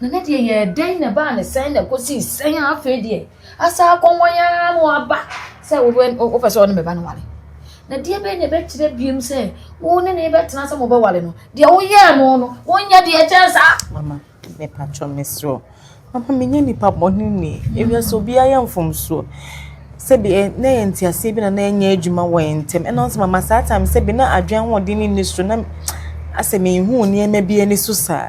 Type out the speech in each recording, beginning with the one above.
Na ne deɛ yɛɛ dɛn na ɛbaa ne sɛn na ɛkɔsii sɛn a afei deɛ asa akɔ wɔn ara na waba sɛ wopɛ sɛ ɔne me ba no wale na deɛ bɛyɛ na ɛbɛkyerɛ biem sɛ wo ne ne bɛtena sɛ mobɛwale no deɛ woyɛɛ no no wonyɛ deɛ ɛkyɛn saa mama mepatwɔ mesrɛ o mama menyɛ nnipa bɔne ni ɛwia sɛ obiara yɛ mfomsoɔ sɛbi eh, na yɛ nteaseɛ bi na na ɛnyɛ adwuma wɔ yɛn ntɛm ɛna ɔsɛ mama saa time sɛbi na adwene ahoɔden ne nni so na asɛ mehu nneɛma bi ani so saa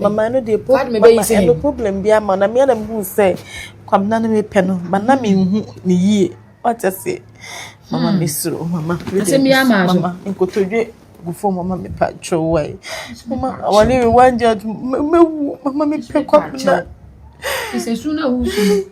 Mama no deɛ problem mama ɛno problem bi ama na mea na mi hu sɛ Kwabena no mi pɛ no but na mi hu ne yie wate ase mama mi soro mama mama nkotodwe gu fam mama mi pa twɛw wae mama awale wi wan gya mɛ wu mama mi pɛ Kwabena. Sɛ su na wusu.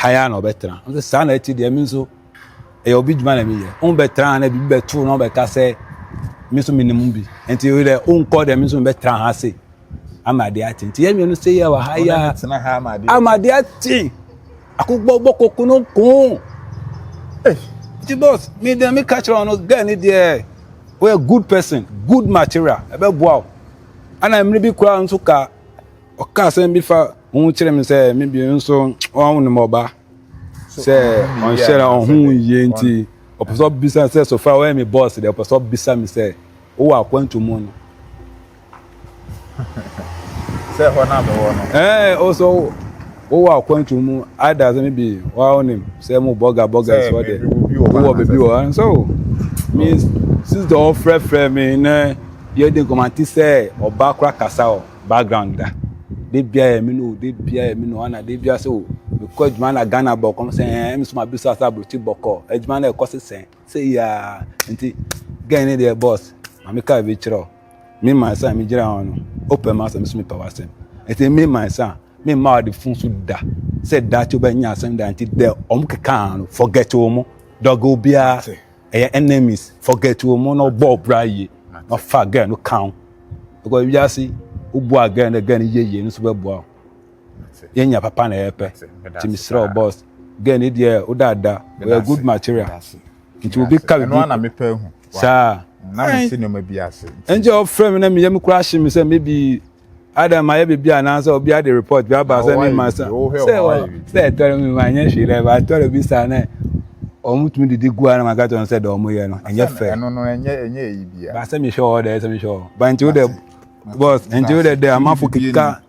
ha ya na ɔbɛtena nso saa na ɛte deɛ mi nso ɛyɛ obi dwuma na mi yɛ wɔn bɛtena na bibi bɛto na ɔbɛka sɛ mi nso mi nim bi nti yɛ dɛ ɔnkɔ dɛ mi nso mi bɛtena ha ase. ama ade ate nti yɛn nuanom sɛ yɛ wɔ ha yɛ ama ade ate akokɔ bɔ koko no ko eh, nti boss mi dɛ mi ka kyerɛ wɔn no girl ni deɛ wɔyɛ good person good material ɛbɛ boa o ɛna mmiri bi koraa nso ka ɔka asɛm bi fa ho kyerɛ mi sɛ mi bi nso wɔn nom ɔba sɛ ɔnhyɛ na ɔho yie nti ɔpɛ sɛ ɔbisa sɛ so far wɔyɛ mi boss deɛ ɔpɛ sɛ ɔbisa mi sɛ wowɔ akwantu mu no. sɛ hɔ na mewɔ no. ɛɛ o sɛ wowɔ akwantu mu ada sɛ mebi wa wonim sɛ mo bɔga bɔga sɛ ɔdɛ wowɔ baabi wɔ ɛn sɛ o me sister ɔfrɛfrɛ me nɛ yɛdi nkɔmɔ te sɛ ɔba kora kasa wɔ background da de bia yɛ me no de bia yɛ me no ana de bia sɛ o mekɔ adwuma na ghana bɔkɔm sɛ ɛɛ me so ma bisa sɛ aburokyi bɔkɔ adwuma na ɛkɔ sesɛn sɛ yaa nti gɛn ne deɛ boss ma me kaa bi kyerɛ o me man sa me gyina hɔ no wopɛ ma asɛm so mepɛ w'asɛm nti me man sa me mma ɔde fun so da sɛ daakye wobɛnya asɛm da nti dɛ ɔmo kekaa no forget wɔ mo dɔge obiara ɛyɛ enemies forget wɔ mo na ɔbɔ ɔbra yie na ɔfa gɛn no kan because wiase wobua gɛn na gɛn yie yie no nso bɛboa o. yɛn nya papa na yɛpɛ nti mesrɛ wo boss girl ne deɛ wodaada ɔyɛ good material nti obi ka bibi saa ɛnkyɛ ɔfrɛ me na meyɛ me kura ahye me sɛ maybe ada ma yɛ bibi anaasɛ obi ade report bi aba sɛ me ma sɛ sɛ ɛtɔre me ma nyɛ hwee dɛ ba ɛtɔre bi saa na wɔn tumi didi gu ara na maka kyerɛ wɔn sɛ deɛ wɔn yɛ no ɛnyɛ fɛ ɛno no ɛnyɛ ɛnyɛ eyi bia baasa mi hwɛ wɔ dɛ ɛsɛ mi hwɛ wɔ ba nti wo dɛ bɔs nti wo dɛ dɛ amafo keka.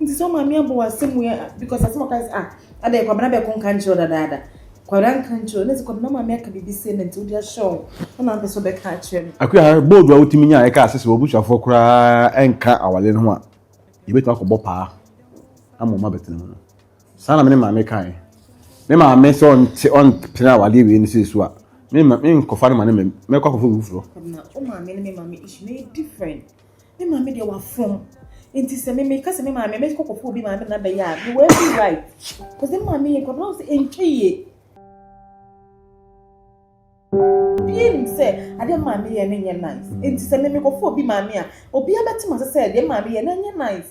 Nti sɛ wo maame abɔ w'asɛm wei a, because asɛm ɔka sɛ, ah, adɛn kwabena bɛko nka nkyerɛ dadaada. Kwabena nka nkyerɛ, na sɛ kwabena maame aka biribi sɛ na nti wode ahyɛ wo, na na mpɛ sɛ ɔbɛka akyerɛ no. Akua, bold a wotumi nya a ɛka ase sɛ w'abusuafoɔ koraa nka awale no ho a, yɛbɛtumi akɔbɔ paa ama wɔn abɛtena mu no. Saa na me ne maame kae. Me maame sɛ ɔnte ɔntena awadeɛ wei no sɛ so a, me nkɔfa no ma ne mɛkɔ akɔfa obi foforɔ. Kwabena, wo maame ne me maame issue no yɛ different. Me maame deɛ wafom. Nti sɛ me me ka sɛ me maame me kɔ kɔfo obi maame na bɛyɛ a me wɔ every right. Cause me maame yɛ nkɔdɔ sɛ ntwa yie. Obi anim sɛ adeɛ me maame yɛ no nyɛ nice. Nti sɛ me me kɔfo obi maame a obi abɛte ma sɛ sɛ deɛ me maame yɛ no nyɛ nice.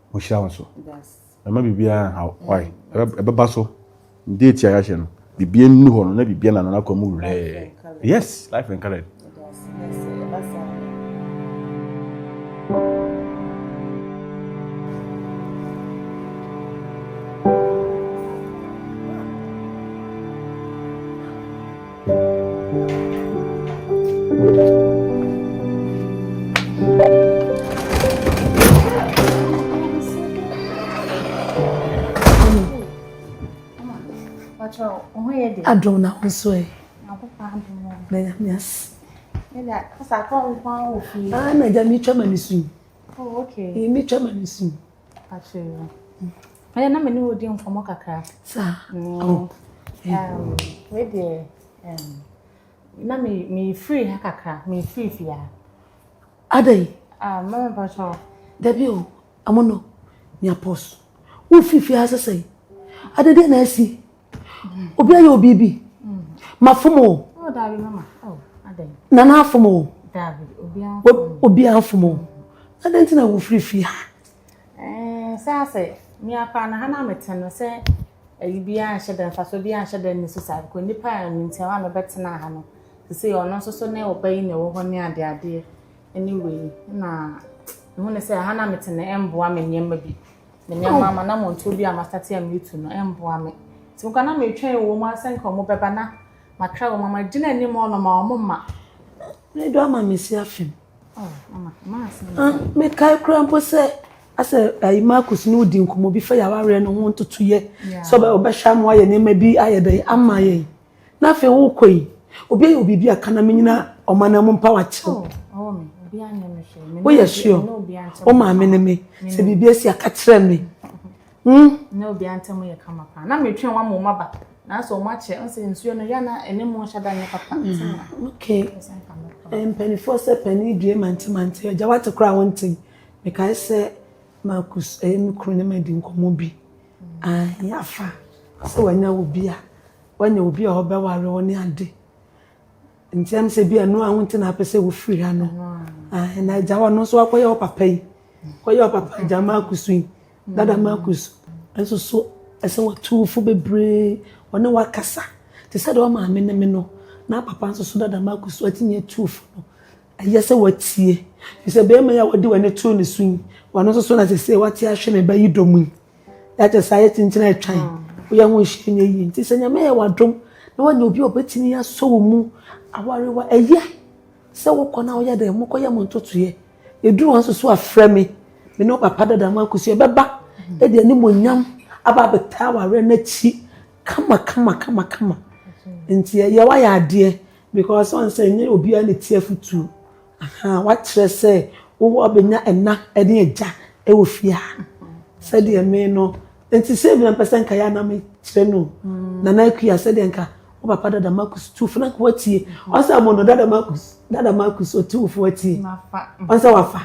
wɔhyira wo so ɛma biribiara nhaw wae ɛbɛba so date a yɛahyɛ no biribiara nni hɔ no na biribiara na nanakɔ mu werɛɛ yes life and colored Adom na ho so ɛ. Na nyame ase. Ah, na gya metwa ma ne su. Oh, okay. Metwa ma ne su. ɛyɛ na me ne wodi nkɔmmɔ kakra saa mm. oh, um, wei deɛ um, na mefiri ha kakra mefiri fie ha adɛn ah, mama mpakyɛ dabi o amono nea pɔs wofiri fie ha sɛsɛe adɛdeɛ na asi obi ayɛ obi bi mafom o nana afom o obi afom o adɛn nti na wofiri fie ha sɛ asɛ meakora na ha na mete no sɛ ayi biara nhyɛ dɛ mfasoɔ biara nhyɛ dɛ ne so saa bikɔ nnipa a mentia hɔ a mebɛtena ha no te sɛ ɔno nso so ne ɔba yi na ɛwɔ hɔ ne adeadeɛ ne wei na ɛhu ne sɛ ha na mete no ɛmboa me nneɛma bi Me nneɛma ama na montoɔ bi a mastate a meretu no ɛmboa me. Nti mekɔ na metwɛn wɔ mu asɛ nka wɔn bɛba na makra wɔn ama gyina anim ɔno ma wɔn mma. Ne do ama me si afem. Oh, mama, mama asem. Ah, me kai kura mpo sɛ asɛ ayi Marcus ne odi nkɔmɔ bi fa yɛ awareɛ no ho ntotoyɛ sɛ ɔbɛhwɛ ama ayɛ nneɛma bi ayɛ dɛn ama yɛn. Na afei wokɔ yi, obi ayɛ wo biribi a ka na menyina ɔman no mu mpa wakyew. Woyɛ sure? Wo maame ne me, sɛ biribi asi aka kyerɛ me. Hmm? Na obi antam yɛ kama paa. Na metwe wɔn mo maba. Na so wɔn akyɛ, ɔsɛ nsuo no ya na ɛne mo nhyɛ da nyɛ papa. Mm, okay. Eh, mpanimfoɔ sɛ panin due mante mante, agya wate koraa wonte. Mekae sɛ Marcus ɛyɛ eh, me kunu ne madi nkɔmmɔ bi. Aane afa sɛ wanya obi a wanya obi a ɔbɛware wo ne ade nti ɛm sɛ bi a ɛno a ho nti na apɛ sɛ wofiri ha no aane na agya hɔ no nso akɔyɛ wo papa yi kɔyɛ wo papa agya ma akusu yi dada ma akusu nso so ɛsɛ watu wo fo bebree ɔne wakasa te sɛ deɛ ɔmaame ne me no na papa nso so dada ma akusu atumi atu wo fo no Ɛyɛ sɛ woatie, efisɛ barima yi a wode w'ani too ne so yi, ɔno nso so na seesei wate ahwe ne ba yi dɔ mu yi. That is ayɛ kyinkyin a atwa yi. Woyɛ ho nhyɛ nyɛ yie. Nti sɛ Nyame yɛ w'adom na woanya obi a obetumi asɔ wo mu aware wo a, ɛyɛ sɛ wokɔ na woyɛ dɛ, mokɔyɛ mo ntotoeɛ. Ɛduru wɔn nso so a, frɛ me. Me ne wo papa dada mo akosua. Ɛbɛba de animuonyam aba abɛtaa awareɛ no akyi kama kama kama kama. Nti ɛyɛ woayɛ adeɛ. Because ɔn sɛ nyɛ obiara na etie afotu. Ahaa wakyerɛ sɛ wo wɔ bɛnya ɛna ɛne agya ɛwɔ fie ha no. Sɛdeɛ me no nti sɛ bi na mpɛ sɛ nka yɛ anam kyerɛ no. Mm. Nana akuya sɛdeɛ nka wo papa dada Marcus tu fo na nka watie. Ɔn sɛ mo no dada Marcus dada Marcus otu fo watie. Ɔn sɛ wafa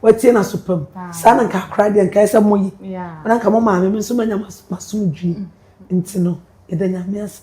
watie na so pam. Ah. Saa na nka akora deɛ nka ɛsɛ mo yi. Na nka mo maame me nso manya masomdwie. Mm. Nti no yɛda nyame ase.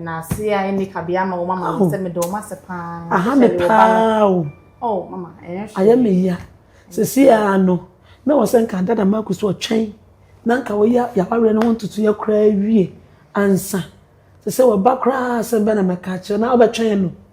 Na ase a ɛnni kabea ama wɔn ama wɔn sɛ meda wɔn ase paa. Aha me paa o. Oh mama ɛyɛ hwee. Ayɛ me ya. Sisi a no na wɔ sɛ nka dada Marco so ɔtwɛn na nka wɔyɛ yawareɛ no ho ntutu yɛ koraa wie ansa. Sɛ sɛ wɔba koraa asɛm bɛ na mɛka akyerɛ na ɔbɛtwɛn no.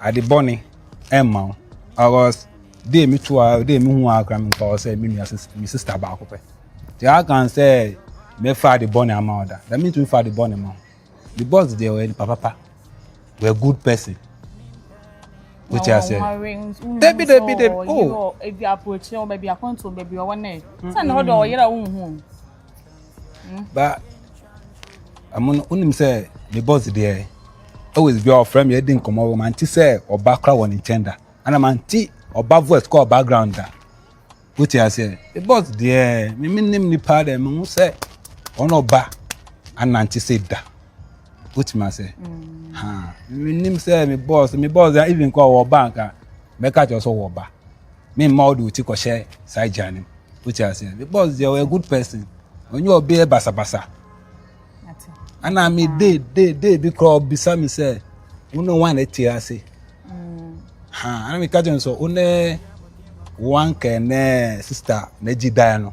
Ade bɔne mma wo. Ɔkɔs dee me to a dee me hu a kora me nkɔ sɛ me nua me sista baako pɛ. Te a kan sɛ me fa ade bɔne ama wo da. Da me ntumi fa ade bɔne ma wo. The boss deɛ ɔyɛ nipa papa. We're a good person. Wote ase. Dabi dabi dabi. Oh. Ebi aprokyerɛ wo baabi akɔnto baabi ɔwɔ nɛ. Sɛ na ɔdɔ ɔyere a wonhu. ba ɛmo no wonim sɛ me bɔs deɛ always bi a ɔfrɛ me adi nkɔmmɔ wɔ mante sɛ ɔba kora wɔ ne nkyɛn da ana mante ɔba voice kɔ background da wote aseɛ me bɔs deɛ me menim nipa dɛ mehu sɛ ɔne ɔba anante sɛ da wotumi aseɛ menim sɛ me bɔs me bɔs even kɔ ɔwɔ ba anka mɛka kyerɛ sɛ ɔwɔ ba Me mma wode wo ti kɔhyɛ saa agya no mu. Wote aseɛ? The boss deɛ ɔyɛ good person. Ɔnyɛ ɔbɛ yɛ basabasa. Ana me de de de bi koraa ɔbisa me sɛ wo ne wan ɛte ase. Mm. Ha ana me ka kyerɛ no sɛ wo ne wan kɛ ne sista na gyi dan no.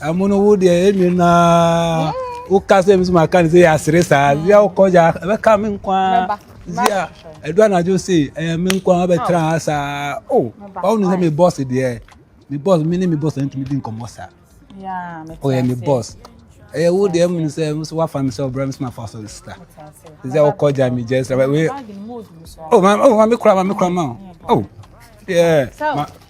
Amono wo deɛ ɛmi na woka sɛ mi so ma ka ne sɛ yɛ asere saa zia wokɔ gya ɛbɛka me nkwa zia ɛdu anadwo se ɛyɛ me nkwa wabɛtra ha saa o ɔwo ne sɛ me bɔs deɛ me bɔs me ne me bɔs ntumi di nkɔmmɔ saa ɔyɛ me bɔs ɛyɛ wo deɛ mu sɛ mo so wafa me sɛ ɔbrɛ me so ma fa so sika zia wokɔ gya me gyɛ sɛ o ma me kora ma me kora ma o deɛ ma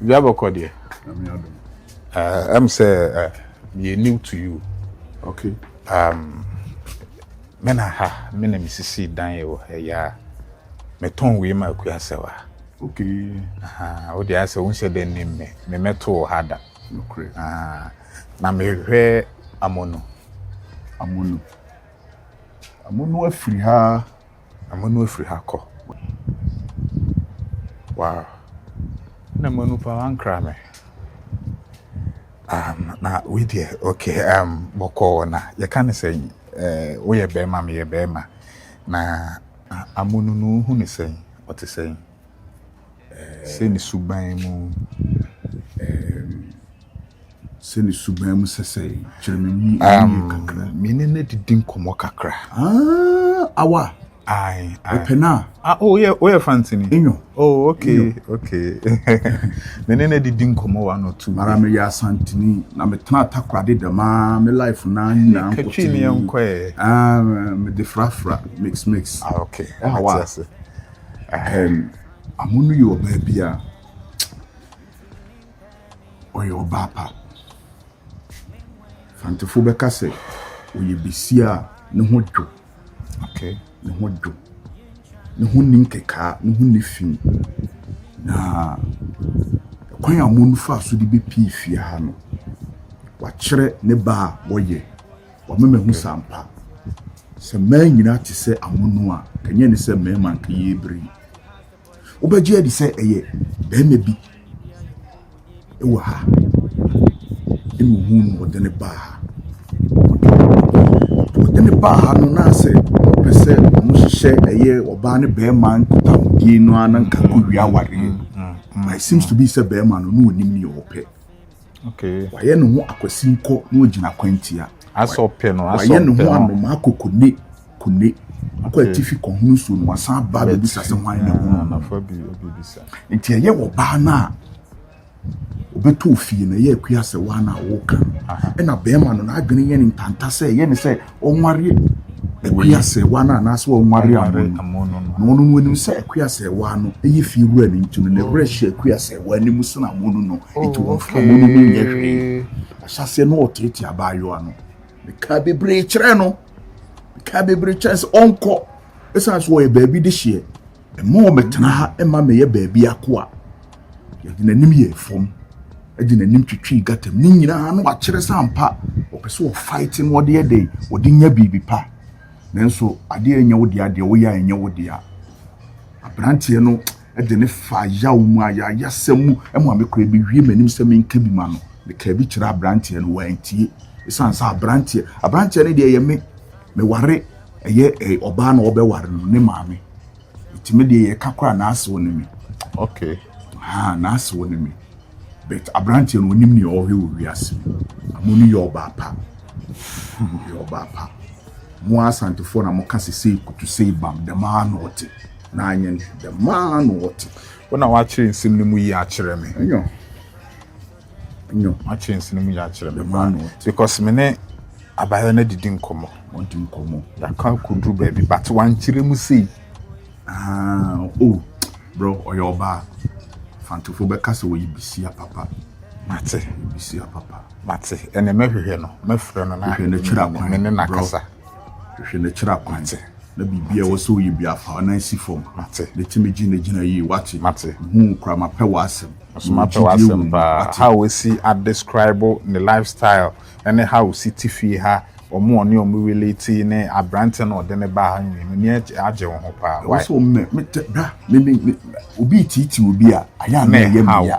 bia bɛkɔ deɛ ɛm sɛ yɛ new to you okay um, me na ha me na mesisi dan yɛ wɔ ha yɛ a metɔn wei ma akua sɛ wa okay aha wode ayɛ sɛ wonhyɛ dɛ ne mmɛ memɛto wɔ ha da na mehwɛ amono amono amono afiri ha Amanu afiri ha kɔ. Wow. Na Amanu pa wankra me. Um, na wei deɛ, okay, um, bɔkɔɔ na yɛka ne sɛ eh, woyɛ bɛrima, meyɛ bɛrima. Na Amanu no wohu ne sɛn, ɔte sɛn? Sɛ ne suban mu, um, Mene no adidi nkɔmmɔ kakra. Awa. Aye. Ɛpɛ no a. Ah, oh, yeah, oh, yeah, Fantini. Enyo. Oh, okay, Enyo. okay. Mene no adidi nkɔmmɔ one or two. Mara me yɛ asantini na me tena atakorade dɛm a me life na nyina nkɔte. Katwi ne yɛ nkɔ ɛ. Ah, me de frafra mix mix. Ah, okay. Awa. Um, amono yi wɔ baabi a. ɔyɛ ɔbaa pa. Mfantefo bɛka sɛ ɔyɛ basia a ne ho dwo. Okay. Ne ho dwo. Ne ho nni nkekaa, ne ho nni fi. Na kwan a wɔfa so de bepie fie ha no, wakyerɛ ne ba a wɔyɛ. Wama mahu sɛ ampa sɛ mmaa nyinaa te sɛ amono a, ka nyɛ ne sɛ mmarima nka yɛrebiri. Wobɛgye adi sɛ ɛyɛ barima bi wɔ ha ɛna ohuu no ɔde ne baa ha. Ɔde ne baa ha no na sɛ ɔpɛ sɛ wɔhyehyɛ ɛyɛ ɔbaa ne barima nkutahodie no ara na nka kɔwie awareɛ. But it seems to be sɛ barima no na ɔnim nea ɔpɛ. Wayɛ ne ho akwasinkɔ na wagyina kwantia. Wayɛ ne ho anomaa kokone kone. Ɔkɔ atifi kɔhono nsuo no, wasan aba abɛbisa sɛ hwan na ɛhono no. Nti ɛyɛ ɔbaa no a ɔbɛtɔ ofie no, ɛyɛ akua sɛ woa no a woka no. Ɛna bɛrima no, n'adwene yɛ no ntanta sɛ ɛyɛ no sɛ ɔnware akuasɛewa no anaasɛ ɔnware amono no. Na ɔno no onim sɛ akuasɛewa no yɛ fie wura no nti no, ne werɛ hyɛ akuasɛewa no mu sen amono no. Enti wɔmfa amono no nyɛ hwee. Ahyɛaseɛ no ɔteetee abaayewa no. Mekaa bebree kyerɛɛ no. Mekaa bebree kyerɛɛ no sɛ ɔnkɔ. Ɛsiane sɛ ɔyɛ baabi dehyeɛ. Mma wɔmmɛtena ha mma mmɛyɛ baabi akoa. Yɛde n'anim yɛɛ fam de n'anim twitwii gata mu. Ne nyinaa na wakyerɛ sɛ ampa ɔpɛ sɛ ɔfaete na ɔde yɛ dɛn, ɔde nya biribi pa. Nanso adeɛ a ɛnyɛ wo dea, deɛ woyɛ a ɛnyɛ wo dea. Aberanteɛ no de ne fa yaw mu a yɛayasɛm mu ma me koraa bɛwie m'anim sɛ menka bi ma no. Mekaa bi kyerɛ aberanteɛ no, wantie. Ɛsiane sɛ aberanteɛ, aberanteɛ no deɛ ɛyɛ me. Me ware ɛyɛ ɛyɛ ɔbaa na ɔbɛ ware no ne maame eti me deɛ yɛ ka kora n'ase wɔ ne me. Okay. Ha n'ase wɔ ne me but aberanteɛ no onim nea ɔhwɛ wɔ wiase mu amu no yɛ ɔbaa pa yɛ ɔbaa pa mo asantefoɔ na mo ka sɛ sei kutu sei bam dɛmaa na ɔte na anyɛ ne dɛmaa na ɔte. Wona wakyerɛ nsɛm no mu yi akyerɛ me. Ɛnyɛ. nyo. Makyerɛ nsi no mu yɛ akyerɛ me paa because me ne abayɛ no adidi nkɔmmɔ. Wɔdi nkɔmmɔ. Yɛaka kɔduru baabi but wankyerɛ mu sei. Ah, oh, bro, ɔyɛ ɔbaa. Fantofo bɛka sɛ wɔyɛ bisia papa. Mate. Bisia papa. Mate. Ɛne mɛhwehwɛ no, mɛfrɛ no na. Hwehwɛ no kyerɛ akwan. Me ne nakasa. Hwehwɛ na kyerɛ akwankyerɛ na biribiara a ɛwɔ sɛ woyɛ biara fa w'anan si fam. Mate. Na tumi gyinagyina yie. Wate. Mate. Mehu wo koraa, mapɛ w'asɛm. Nso mewɔ mapɛ gyidie wɔ w'asɛm mu. paa. Wate. How ɔsi a describe ne life style ne how ɔsi te fie ha, wɔn a ɔne wɔn relate ne aberanteɛ no a ɔde no baa ha no nyinaa, m'ani agye agye wo ho paa. Ɛwɔ Why? sɛ wɔn mɛ, me tɛ, bra, me, me, me, obi reteetee obi a, ayɛ a na Ne ɛyɛ me how? ya.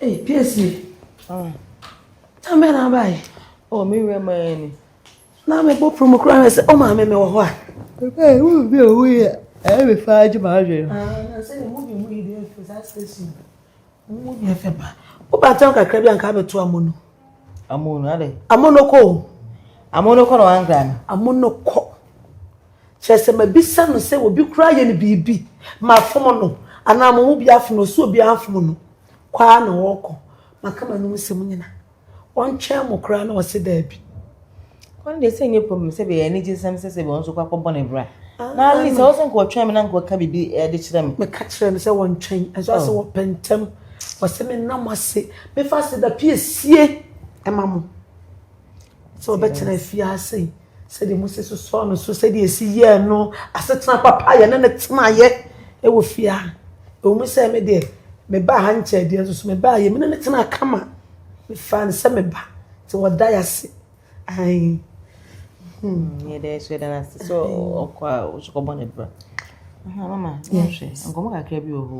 Hey, Piesie. Ah. Tambe na abaye. Oh, me we man. Na me bo promo kra me se o ma me me wo ho a. Hey, wo bi o we. Eh, me fa je ma je. Ah, na se mo bi mo ide fe sa station. Mo bi fe pa. O ba tan kakra bi anka be to amono. Amono ade. Amono ko. Amono ko no angra no. Amono ko. Kyerɛ sɛ, mabisa no sɛ obi koraa ayɛ no biribi ma afom no anaa mo mu bi afom no. Sɛ obiara amfom no, kɔ ara na ɔrekɔ. Maka m'anom nsɛm nyinaa. Ɔntwɛn mo koraa? Na ɔse, Daabi. Ɔno deɛ sɛ nyɛ problem sɛ bɛyɛ anigye nsɛm sɛ sɛ bɛ ɔnso kɔ akɔbɔ ne bra na at least ɔsɛ nka ɔtwɛn me na nka ɔka biribi ɛde kyerɛ me. Meka kyerɛ no sɛ wɔntwɛn nso ɔsɛ wɔpɛ ntɛm ɔsɛ menna mo ase mefa ase da piesie ɛma mo. Sɛ ɔbɛtena afiase sɛdeɛ Mose sosɔɔ no so sɛdeɛ ɛsi yɛɛ no asetena papa a yɛne no tenaeɛ wɔ fie a ɛwɔ mu sɛ me deɛ mebaa ha nkyɛɛ deɛ nso so mebaa yɛ me ne no tenaa kama mefaa no sɛ meba nti wɔda yɛ ase ae yɛda yɛ so yɛda no ase sɛ ɔkɔ a ɔsokɔbɔ ne bra mama nkɔmmɔ kakra bi wɔ hɔ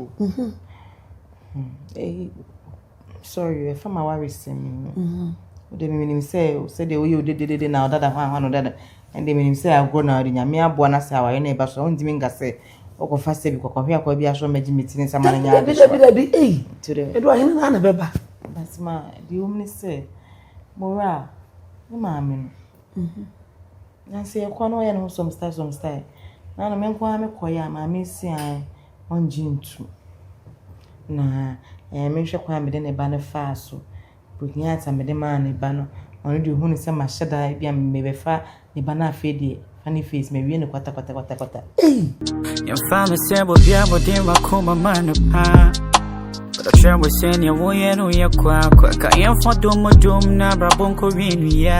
sorry ɛfa ma waresɛm yi mu wode me menim sɛ sɛdeɛ woyɛ wo dededede na ɔdada hɔ ahɔ no dada ɛnde menim sɛ agorɔ na wode nyame aboa no sɛ awareɛ no ɛba so a wontumi nka sɛ wokɔfa sɛ bi kɔkɔhwe akɔa bi asɔ magye me tiri nsama no nyɛ adesoabi ei ɛdo ahene no ana bɛba basima deɛ wom ne sɛ mowura a ne maame no mhm. nanso yɛkɔ no ɔyɛ ne ho some style some style na no me nko ara mekɔyɛ a maame siae ɔnngye nntu. Na ɛɛ mennhwɛ kwan a mede ne ba no faa so. Bohia adze a mede maa ne ba no, ɔno de ohun sɛ mahyɛ da, bi a mebɛfa ne ba no afei deɛ fa ne face mewie no kwatakwatakwatakwata. Ei! Yɛmfa no sɛ bɔbia bɔde wakoma ma no paa Ɔkyerɛ wo sɛ neɛ woyɛ no yɛ kwaakwa Ka yɛmfa dom dom na abrabɔ nkɔ wie no yia